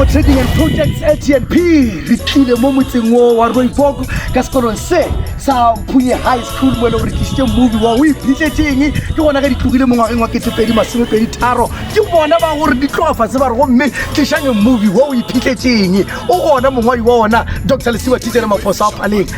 go trading and projects atnp re tlile mo motseng o wa roibok ka sekolong se sa phunye high school mo e leng re tlisitse movie wa o iphitletseng ke gona ge di tlogile mo ngwageng wa ketepedi masomepedi tharo ke bona ba gore di tlogafa se ba re gomme tlišang movie wa o iphitletseng o gona mongwadi wa ona dr lesiwa titšere mafosa a paleng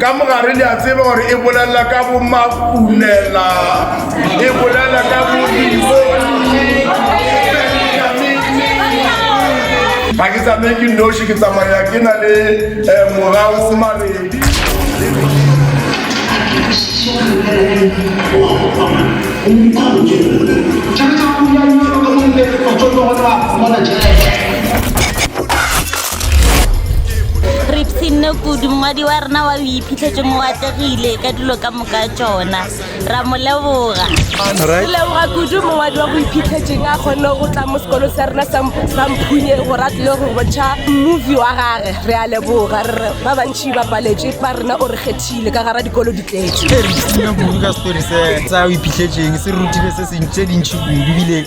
ka mogare le a tseba gore e bolelela ka bomakunela e bolelela ka bodiboni ga ke tsamaye ke noši ke tsamaya ke na le um eh, morago mabedi Thank you. ripsinne kudu mongwadi wa rena wa o iphitlhetse mo atlegile ka dilo ka moka tsona ra mo leboga re leboga kudu mongwadi wa go iphitlhetseng a kgonne go tla mo sekolo sa rena sa mphunye gore a tlile go bontšha movie wa gage re a leboga rre ba bantšhi ba paletswe ba rena o re kgethile ka gara dikolo di tletse ka setori se sa o iphitlhetseng se rutile se sentse dintšhi kudu bile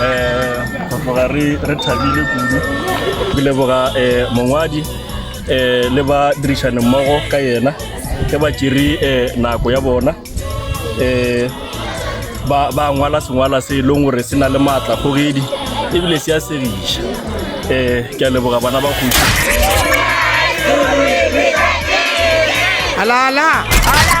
um go tloga re thabile kudu ke leboga um mongwadi um le ba dirišane mmogo ka yena ke ba tšere um nako ya bona um ba ngwala sengwala se e leng gore se na le maatla kgogedi ebile se a segiša um ke a leboga bana ba kgoši Alala! Alala!